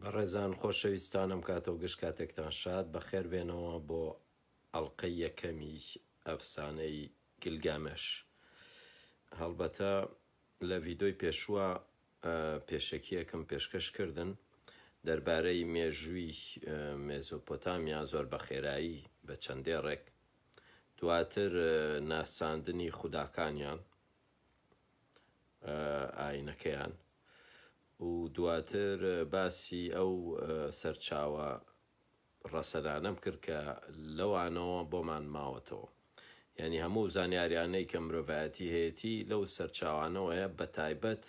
بەڕێزان خۆشەویستانم کاتەو گشت کاتێکتان شاد بەخێر بێنەوە بۆ ئەڵقەی یەکەمی ئەفسانەی گلگامش هەڵبەتە لە ڤیدۆی پێشووە پێشەکیەکم پێشکەش کردن دەربارەی مێژووی مێزۆپۆتامیا زۆر بە خێرایی بە چەند دێڕێک دواتر ناساندنی خوداکانیان ئاینەکەیان و دواتر باسی ئەو سەرچاوە ڕەسەنانەم کرد کە لەوانەوە بۆمان ماوەتەوە یانی هەموو زانیاریانەی کە مرۆڤایەتی هەیەتی لەو سەرچاوانەوەیە بەتایبەت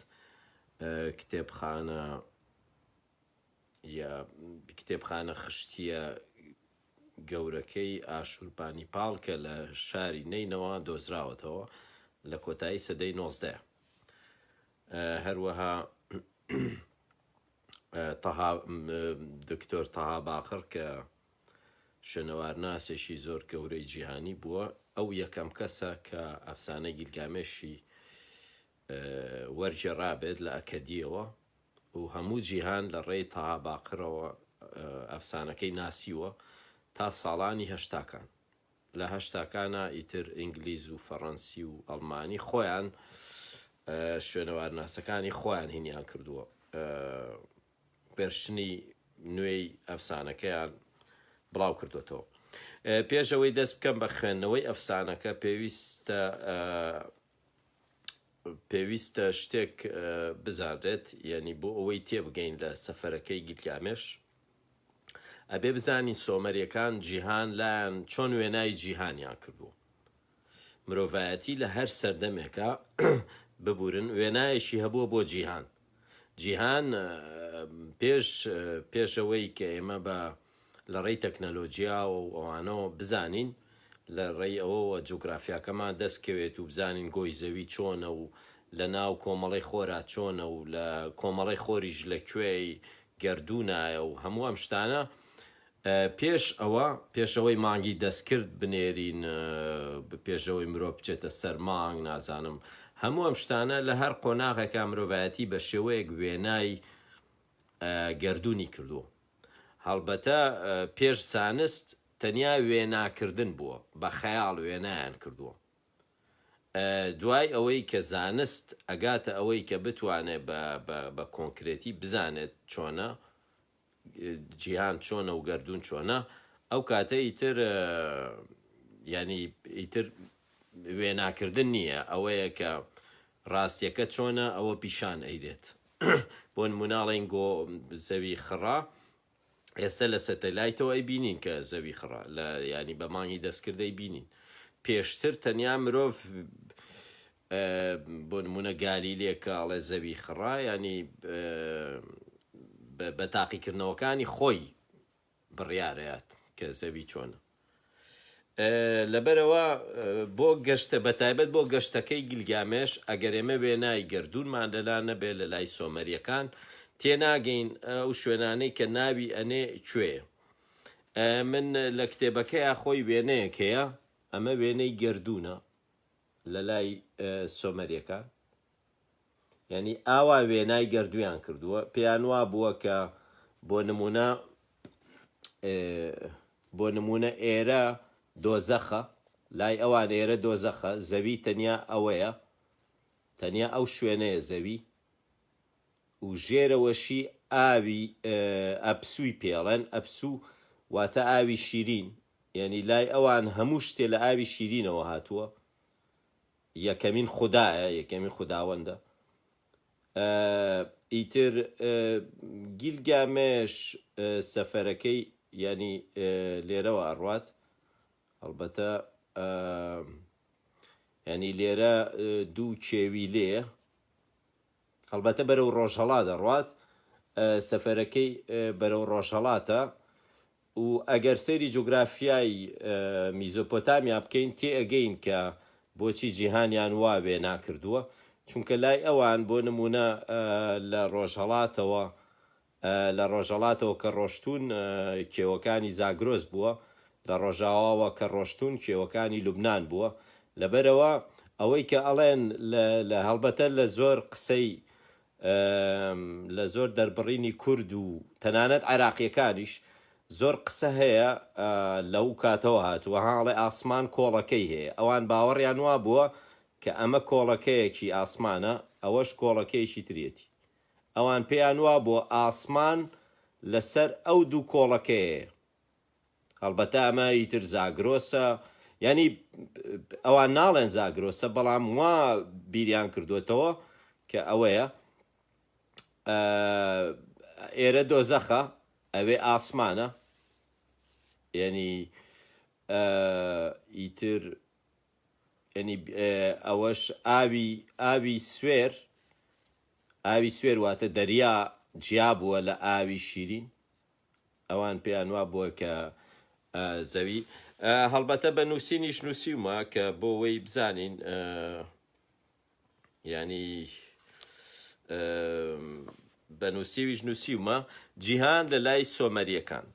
کتێبخانە یە کتێبخانە خشتیە گەورەکەی ئاشوربانیپاڵ کە لە شاری نەینەوا دۆزراوەتەوە لە کۆتایی سەدەی نۆزدە هەروەها تەها دکتۆر تەها باقڕ کە شوێنەوارناسێکی زۆر گەورەی جیهانی بووە ئەو یەکەم کەسە کە ئەفسانە گیلگامێشی وەرجێڕابێت لە ئەکەدیەوە و هەموو جیهان لە ڕێی تەها باقرەوە ئەفسانەکەی ناسیوە تا ساڵانی هەشتاکان لە هەشتاکانا ئیتر ئینگلیز و فەڕەنسی و ئەڵمانی خۆیان شوێنەوارناسەکانی خۆیان هینیان کردووە بێرشنی نوێی ئەفسانەکەیان بڵاو کردوێتەوە پێش ئەوەی دەست بکەم بە خوێندنەوەی ئەفسانەکە پێویستە پێویستە شتێک بزانرێت یەنی بۆ ئەوەی تێبگەین لە سەفەرەکەی گیلگامێش ئەبێ بزانین سۆمەریەکان جیهان لایەن چۆن وێنای جیهانیان کردووە مرۆڤایەتی لە هەر سەردەمێکە ببورن وێنایەکی هەبووە بۆ جیهان جیهان پێش پێش ئەوەی کە ئێمە بە لە ڕێی تەکنەلۆجیاوە و ئەوانەوە بزانین لە ڕێی ئەوەوە جوگرافیاکەمان دەست کەوێت و بزانین گۆی زەوی چۆنە و لە ناو کۆمەڵەی خۆرا چۆنە و لە کۆمەڵەی خۆریش لە کوێی گەردوونایە و هەموو ئەم شتانە پێش ئەوە پێشەوەی مانگی دەستکرد بنێرین پێشەوەی مرۆڤ بچێتە سەر مانگ نازانم هەموو ئەم شتانە لە هەر قۆناغێکا مرۆڤایەتی بە شێوەیەک وێنای گەردوونی کردووە هەڵبەتە پێش زانست تەنیا وێناکردن بووە بە خەیاڵ وێنایان کردووە دوای ئەوەی کە زانست ئەگاتە ئەوەی کە بتوانێت بە کۆنکرێتی بزانێت چۆنە جیهان چۆنە و گەردوون چۆنە ئەو کاتە ئیتر یانی ئیتر وێناکردن نییە ئەوەیە کە ڕاستیەکە چۆنە ئەوە پیشان ئەیرێت بۆ نموناڵین گۆ زەوی خڕا ئێستا لە سەتەلایتەوە ئەی بینین کە زەوی خڕا لە ینی بەمانی دەستکردەی بینین پێشتر تەنیا مرۆڤ بۆ نموونە گالیلێ کە ئەڵێ زەوی خڕە یانی بە تاقیکردنەوەکانی خۆی بڕیارەیات کە زەوی چۆنە لەبەرەوە بۆ گەشتە بەتایبەت بۆ گەشتەکەی گلگامێش ئەگەر ئێمە وێنای گردوونمان لەلا نەبێ لە لای سۆمەریەکان تێناگەین ئەو شوێنانەی کە ناوی ئەنێ کوێ من لە کتێبەکەی خۆی وێنەیەکەیە ئەمە وێنەی گردوونە لەلای سۆمەریەکان یانی ئاوا وێنای گەردویان کردووە پێیان وا بووە کە بۆ نمونە بۆ نمونە ئێرە دۆزەخە لای ئەوان ئێرە دۆزەخە زەوی تەنیا ئەوەیە تەنیا ئەو شوێنەیە زەوی و ژێرەوەشی ئاوی ئەپسووی پێڵێن، ئەپسوو واتە ئاوی شیرین، یەنی لای ئەوان هەموو شتێ لە ئاوی شیرینەوە هاتووە، یەکەمین خودایە، یەکەمین خوداوەندە. ئیتر گیلگامێش سەفەرەکەی یەنی لێرەوە ئەڕوات، هەڵبەتە یەنی لێرە دوو کێوی لێیە، هەڵبەتە بەرەو ڕۆژهەڵات دەڕوات سەفەرەکەی بەرەو ڕۆژهەڵاتە و ئەگەر سەیری جوگرافیای میزۆپۆتامیا بکەین تێئەگەین کە بۆچی جیهانیان وا وێنا کردووە چونکە لای ئەوان بۆ نموونە لە ڕۆژهەڵاتەوە لە ڕۆژەڵاتەوە کە ڕۆشتوون کێوەکانی زاگرۆس بووە، لە ڕۆژاواوە کە ڕۆشتوون کێوەکانی لوبنان بووە، لەبەرئەوە ئەوەی کە ئەڵێن لە هەڵبەتە لە زۆر قسەی لە زۆر دەربڕینی کورد و تەنانەت عێراقیەکانیش زۆر قسە هەیە لەو کاتەوە هاتووە ها ئەڵێ ئاسمان کۆڵەکەی هەیە ئەوان باوەڕیان وابووە کە ئەمە کۆڵەکەیەکی ئاسمانە ئەوەش کۆڵەکەیەکی ترێتی ئەوان پێیان وابووە ئاسمان لەسەر ئەو دوو کۆڵەکەیەیە. هەڵبەتە ئەمە ئیتر زاگرۆسە، یانی ئەوان ناڵێن زاگرۆسە، بەڵام وا بیریان کردووەتەوە کە ئەوەیە. ئێرە دۆزەخە، ئەوێ ئاسمانە. یانی ئیتر یەعنی ئەوەش ئاوی ئاوی سوێر ئاوی سوێر واتە دەریا جیا بووە لە ئاوی شیرین ئەوان پێیان وا بووە کە زەوی هەڵبەتە بە نووسینیش نووسیومە کە بۆ وەی بزانین یانی بە نووسیویش نووسیومە جیهان لە لای سۆمەرییەکان.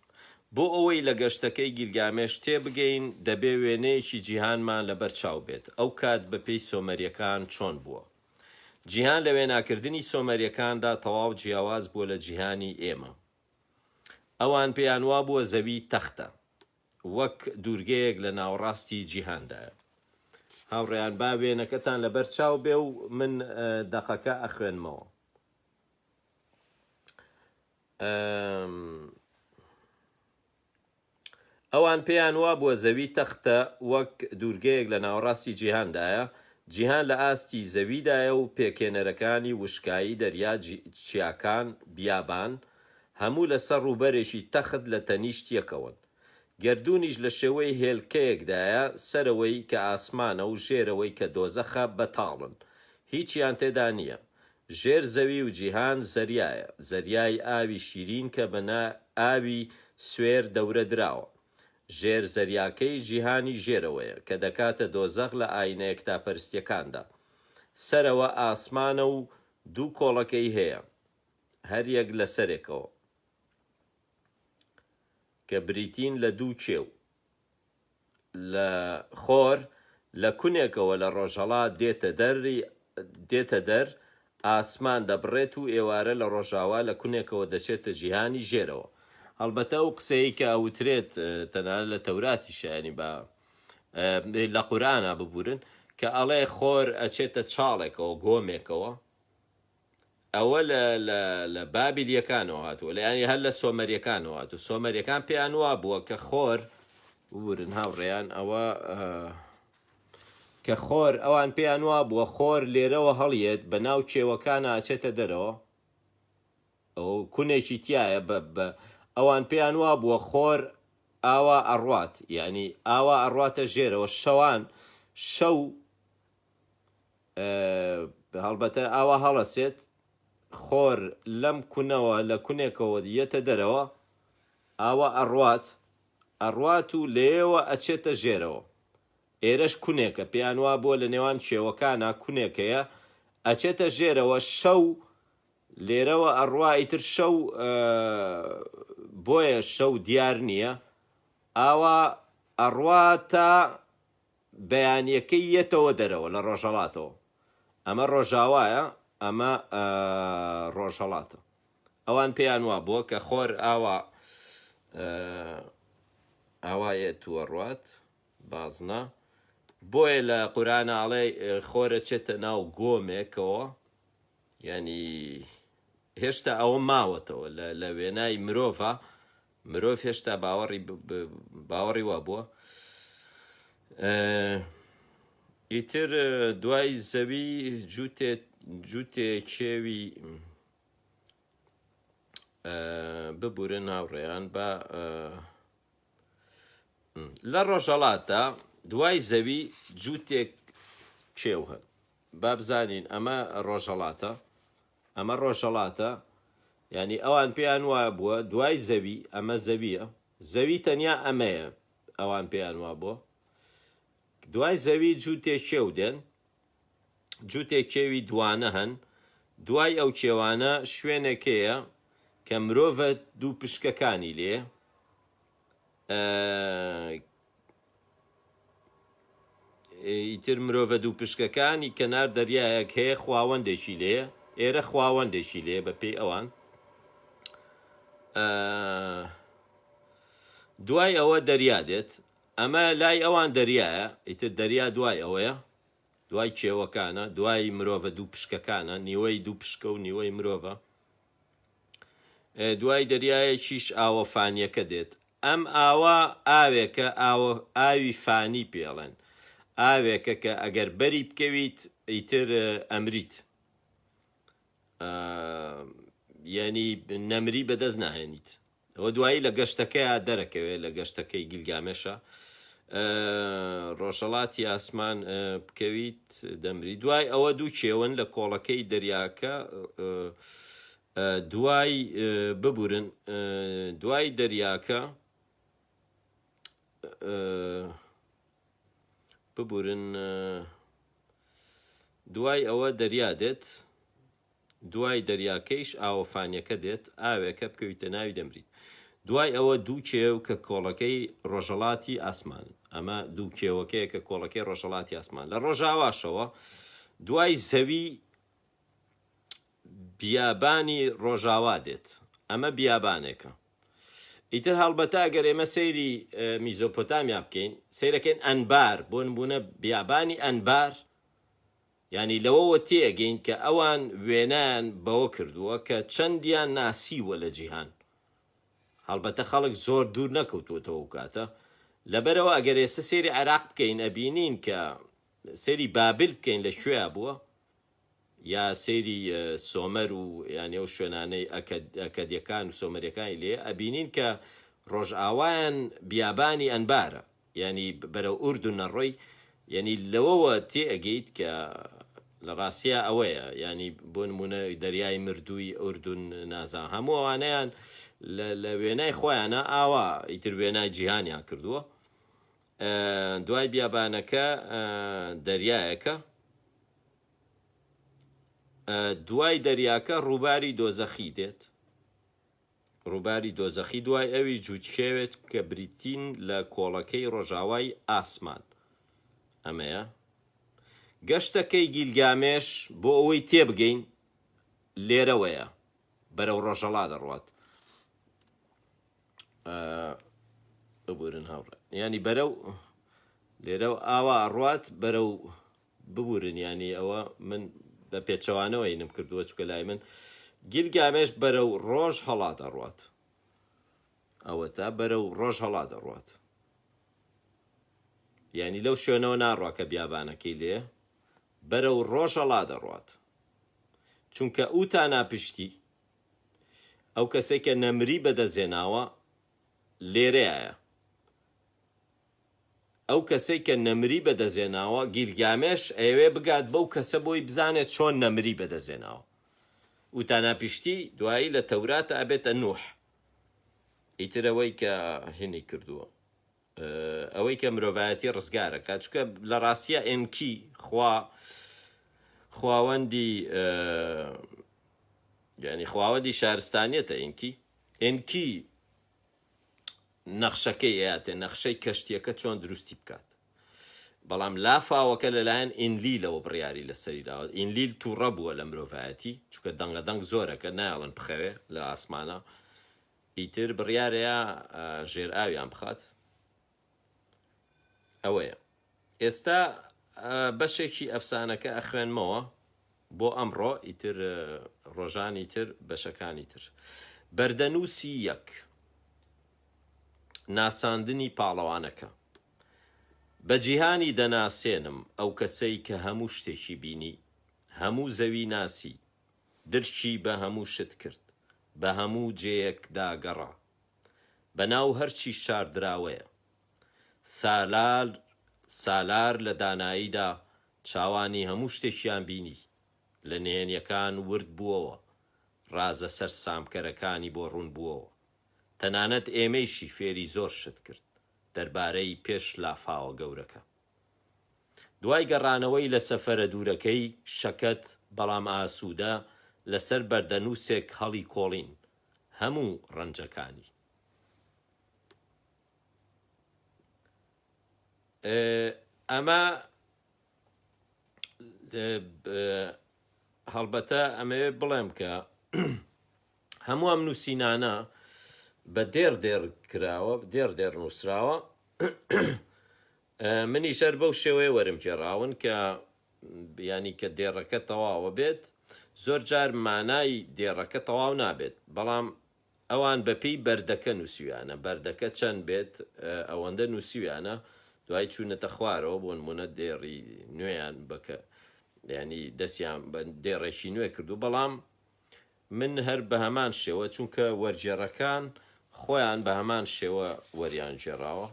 بۆ ئەوەی لە گەشتەکەی گیلگامێش تێ بگەین، دەبێ وێنەیەکی جیهانمان لەبەر چاو بێت، ئەو کات بە پێی سۆمەرییەکان چۆن بووە. جیهان لە وێناکردنی سۆمەرییەکاندا تەواو جیاواز بووە لە جیهانی ئێمە. ئەوان پێیان وابووە زەوی تەختە. وەک دوورگەیەک لە ناوەڕاستی جیهاندایە. هاوڕێیان با وێنەکەتان لەبەر چاو بێ و من دەقەکە ئەخوێنمەوە. ئەوان پێیان وابووە زەوی تەختە وەک دوورگەیەک لە ناوەڕاستی جیهاندایە، جیهان لە ئاستی زەویدایە و پێکهێنەرەکانی وشکایی، دەریا، چیاکان، بیابان، هەموو لە سەر ڕووبەرێکی تەخت لە تەنیشت یەکەوەن. گەردوونیش لە شێوەی هێلکەیەکدایە، سەرەوەی کە ئاسمانە و ژێرەوەی کە دۆزەخە بەتاڵن. هیچیان تێدا نییە. ژێر زەوی و جیهان زەریایە، زەریای ئاوی شیرین کە بە نا ئاوی سوێر دەورە دراوە. ژێر زەریاکەی جیهانی ژێرەوەیە کە دەکاتە دۆزەخ لە ئایینە یەکتاپەرستییەکاندا. سەرەوە ئاسمانە و دوو کۆڵەکەی هەیە. هەریەک لە سەرێکەوە، کە بریتین لە دوو کێو، لە خۆر، لە کونێکەوە لە ڕۆژهەڵات دێتە دەر، ئاسمان دەبڕێت و ئێوارە لە ڕۆژاوا لە کونێکەوە دەچێتە جیهانی ژێرەوە. هەڵبەتە ئەو قسەیەی کە ئەوترێت تەنانەت لە تەوراتیشە، یانی لە قورئانا ببورن، کە ئەڵێ خۆر ئەچێتە چاڵێکەوە، گۆمێکەوە، ئەوە لە لە لە بابلیەکانەوە هاتووە لە یانی هەر لە سۆمەریەکانەوە هاتوو سۆمەریەکان پێیان وا بووە کە خۆر ورن هاوڕێیان ئەوە کە خۆر ئەوان پێیان وا بووە خۆر لێرەوە هەڵیێت بە ناو چێوەکانە ئەچێتە دەرەوە ئەو کونێکی تایە بە بە ئەوان پێیان وا بووە خۆر ئاوا ئەڕات یعنی ئاوا ئەڕاتە ژێرەوە شەوان شەو هەڵبەتە ئاوا هەڵەسێت خۆر لەم کونەوە لە کونێکەوە یەتە دەرەوە ئاوا ئەڕوات ئەڕوات و لەیەوە ئەچێتە ژێرەوە ئێرەش کونێکە پێیان وا بووە لە نێوان کێوەکانا کونێک هەیە ئەچێتە ژێرەوە شەو لێرەوە ئەڕوا ئیتر شەو بۆیە شەو دیار نییە ئاوا ئەڕوا تا بەیانیەکەی یەتەوە دەرەوە لە ڕۆژهەڵاتەوە ئەمە ڕۆژاوایە ئەمە ڕۆژهەڵاتە ئەوان پێیان وابووە کە خۆر ئاوا ئاوایە تووەڕات بازنە بۆیە لە قورانناڵێ خۆرە چێتە ناو گۆمێکەوە ینی هێشتا ئەوە ماوەتەوە لە وێنای مرۆڤە مرۆڤ هێشتا باوەڕی باوەڕی وابووە ئیتر دوای زەوی جووتێ جووتێ کێوی ببورە ناوڕێیان بە لە ڕۆژەڵاتدا دوای زەوی جووتێک کێو هەن بابزانین ئەمە ڕۆژەڵاتە ئەمە ڕۆژهەڵاتە، یانی ئەوان پێیان وابووە دوای زەوی ئەمە زەوییە، زەوی تەنیا ئەمەیە، ئەوان پێیان وابووە دوای زەوی جووتێ کێو دێن، جووتێ کێوی دووانە هەن، دوای ئەو کێوانە شوێنێک هەیە کە مرۆڤە دوو پشکەکانی لێیە، ئیتر مرۆڤە دووپشکەکانی کەنار دەریایەک هەیە خواوەندێکی لێ ئێرە خواوەندێکی لێ بە پێی ئەوان دوای ئەوە دەریا دێت ئەمە لای ئەوان دەریایە ئیتر دەریا دوای ئەوەیە دوای کێوەکانە دوای مرۆڤە دوو پشکەکانە نیوەی دوو پشکە و نیوەی مرۆڤە دوای دەریایەکیش ئاوە فانیەکە دێت ئەم ئاوە ئاوێکە ئاوە ئاوی فانی پێڵێن ئاوێکە کە ئەگەر بەری بکەویت ئیتر ئەمریت یەنی نەمری بەدەست ناهێنیت ئەوە دوایی لە گەشتەکەیا دەرەکەوێ لە گەشتەکەی گیلگامێشا ئە ڕۆژەڵاتی ئاسمان ئە بکەویت دەمری دوای ئەوە دوو کێون لە کۆڵەکەی دەریاکە ئە ئە دوای ئە ببورن ئە دوای دەریاکە ئە ببورن ئە دوای ئەوە دەریا دێت دوای دەریاکەیش ئاوە فانیەکە دێت، ئاوێکە بکەویتە ناوی دەمریت. دوای ئەوە دوو کێو کە کۆڵەکەی ڕۆژەڵاتی ئاسمانن. ئەمە دوو کێوەکەیە کە کۆڵەکەی ڕۆژەڵاتی ئاسمان. لە ڕۆژاواشەوە دوای زەوی بیابانی ڕۆژاوا دێت. ئەمە بیابانێکە. ئیتر هەڵبەتە ئەگەر ئێمە سەیری میزۆپۆتامیا بکەین، سەیرەکەین ئەنبار، بۆ نموونە بیابانی ئەنبار یانی لەوەوە تێئەگەین کە ئەوان وێنایان بەوە کردووە کە چەندیان ناسیووە لە جیهان. هەڵبەتە خەڵک زۆر دوور نەکەوتووەتەوە ئەو کاتە. لەبەرئەوە ئەگەر ئێستە سەیری عێراق بکەین ئەبینین کە سەیری بابل بکەین لە کوێیا بووە یا سەیری سۆمەر و یانی ئەو شوێنانەی ئەکەد ئەکەدیەکان و سۆمەریەکانی لێیە ئەبینین کە ڕۆژئاوایان بیابانی ئەنبارە. یانی بەرەو ئوردون ئەڕۆی یانی لەوەوە تێ ئەگەیت کە لە ڕاستیا ئەوەیە یانی بۆ نمونە دەریای مردووی ئوردون نازام هەموو ئەوانەیان لە لە وێنای خۆیانە ئاوا ئیتر وێنای جیهانیان کردووە دوای بیابانەکە دەریایەکە دوای دەریاکە ڕووباری دۆزەخی دێت. ڕووباری دۆزەخی دوای ئەوی جووتکێوێت کە بریتین لە کۆڵەکەی ڕۆژاوای ئاسمان. ئەمەیە گەشتەکەی گیلگامێش بۆ ئەوەی تێبگەین لێرەوەیە بەرەو ڕۆژەڵا دەڕوات. ببورن هاوڕێ یانی بەرەو لێرە ئاوا ئەڕوات بەرەو ببورن یانی ئەوە من بە پێچەوانەوە هینم کردووە چکە لای من گیلگامێش بەرە و ڕۆژ هەڵا دەڕات ئەوە تا بەرە و ڕۆژ هەڵا دەڕات یعنی لەو شوێنەوە ناڕوا کە بیابانەکەی لێ بەرە و ڕۆژ هەڵا دەڕات چونکە ئەو تا ناپشتی ئەو کەسێکە نەمری بەدەزێناوە لێرەیە ئەو کەسەی کە نەمری بەدەستهێناوە، گیلگامێش ئەیەوێ بگات بەو کەسە بۆی بزانێ چۆن نەمری بەدەستهێناوە. وتاناپشتی دوایی لە تەوراتە ئەبێتە نوح. ئیتر ئەوەی کە هینی کردووە. ئەوەی کە مرۆڤایەتی ڕزگارە کا چکە لە ڕاستیە ئێنکی خوا خواوەندی یعنی خواوەندی شارستانیەتە ئینکی ئینکی نەخشەکەی ئەیاتێ نەخشەی کەشتیەکە چۆن دروستی بکات بەڵام لافاوەکە لەلایەن ئینلیلەوە بڕیاری لەسەری داوە ئینلیل تووڕە بووە لە مرۆڤایەتی چکە دەنگە دەنگ زۆرەکە نایڵن بخەوێ لە ئاسمانە ئیتر بڕیارەیە ژێر ئاویان بخات ئەوەیە ئێستا بەشێکی ئەفسانەکە ئەخوێنمەوە بۆ ئەمڕۆ ئیتر ڕۆژانی تر بەشەکانی تر بەردەنووسی یەک ناساندنی پاڵەوانەکە بە جیهانی دەناسێنم ئەو کەسەی کە هەموو شتێکی بینی هەموو زەوی ناسی درکی بە هەموو شت کرد بە هەموو جێیەکدا گەڕا بەناو هەرچی شاردراوەیە. سالار سالار لە داناییدا چاوانی هەموو شتێکیان بینی، لە نهێنیەکان ورد بووەوە، رازە سەرسامکەرەکانی بۆ روون بووەوە. تەنانەت ئێمەیشی فێری زۆر شت کرد دەربارەی پێش لافاوە گەورەکە. دوای گەڕانەوەی لە سەفەرە دوورەکەی، شەکەت بەڵام ئاسوودە لەسەر بەردەنووسێک هەڵیکۆڵین، هەموو ڕەنجەکانی. ئەمە هەڵبەتە ئەمەوێت بڵێم کە هەموو ئەم نووسینانە بە دێر دێر کراوە دێر دێر نووسراوە منیش هەر بەو شێوەیە وەرم گێڕاون کە یانی کە دێڕەکە تەواوە بێت زۆر جار مانای دێڕەکە تەواو نابێت بەڵام ئەوان بەپێی بەردەکە نووسیویانە بەردەکە چەند بێت ئەوەندە نووسیویانە دوای چوونەتە خوارەوە بۆ نمونە دێڕی نوێیان بەکە ینی دەستیان بە دێڕێکی نوێ کردو بەڵام من هەر بەهەمان شێوە چونکە وەرگێڕەکان خۆیان بەهەمان شێوە وەریان گێڕاوە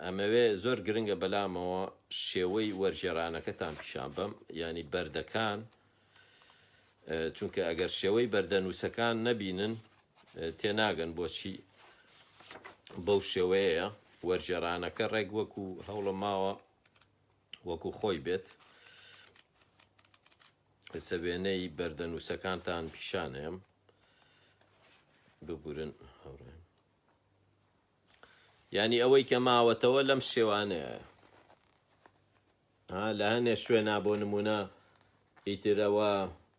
ئەمەوێ زۆر گرنگە بەلامەوە شێوەی وەرگێرانەکەتان پیشان بەم ینی بەردەکان چونکە ئەگەر شێوەی بەردەنووسەکان نەبینن تێناگەن بۆچی بەو شێوەیە وەرجێرانەکە ڕێک وەکو هەوڵە ماوە وەکو خۆی بێت ئێسە وێنەی بەردەنووسەکانتان پیشانەیەم ببورن هەڕێن ینی ئەوەی کە ماوەتەوە لەم شێوانەیە لە هەنێ شوێنا بۆ نمونە ئیترەوە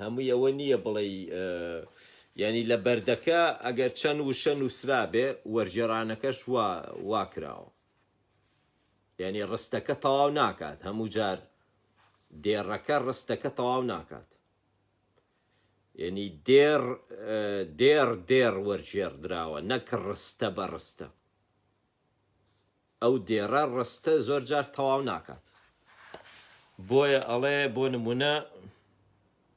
هەمووی ئەوە نییە بڵێی یانی لە بەردەکە ئەگەر چەند وشە نووسرابێ وەرگێڕانەکەش وا وا کراوە یعنی ڕستەکە تەواو ناکات هەموو جار دێڕەکە ڕستەکە تەواو ناکات یعنی دێڕ دێڕ دێڕ وەرگێڕ دراوە نەک ڕستە بە ڕستە ئەو دێڕە ڕستە زۆر جار تەواو ناکات بۆیە ئەڵێ بۆ نمونە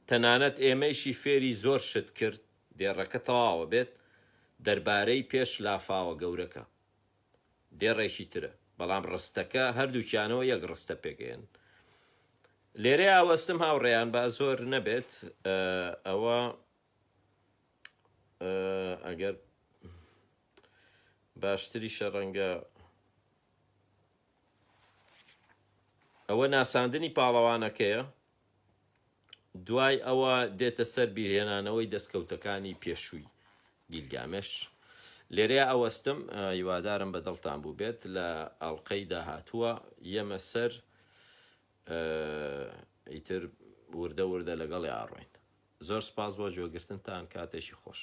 تەنانەت ئێمەیشی فێری زۆر شت کرد دێڕەکە تەواوە بێت دەربارەی پێش لافاوە گەورەکە دێڕێکی ترە بەڵام ڕستەکە هەردووکیانەوە یەک ڕستە پێگەیەن لێرە ئاوەستم هاوڕێیان با زۆر نەبێت ئەوە ئەگەر باشتریشە ڕەنگە ئەوە ناساندنی پاڵەوانەکەیە دوای ئەوە دێتە سەر بیرهێنانەوەی دەستکەوتەکانی پێشووی گیلگامێش لێرەیە ئەوەستم هیوادارم بە دڵتان بوو بێت لە ئەڵلقەی داهاتووە یەمە سەر ئیتر وردە وردە لەگەڵی ئاڕۆین زۆر سپاس بۆ جۆگرتنتان کاتێکی خۆش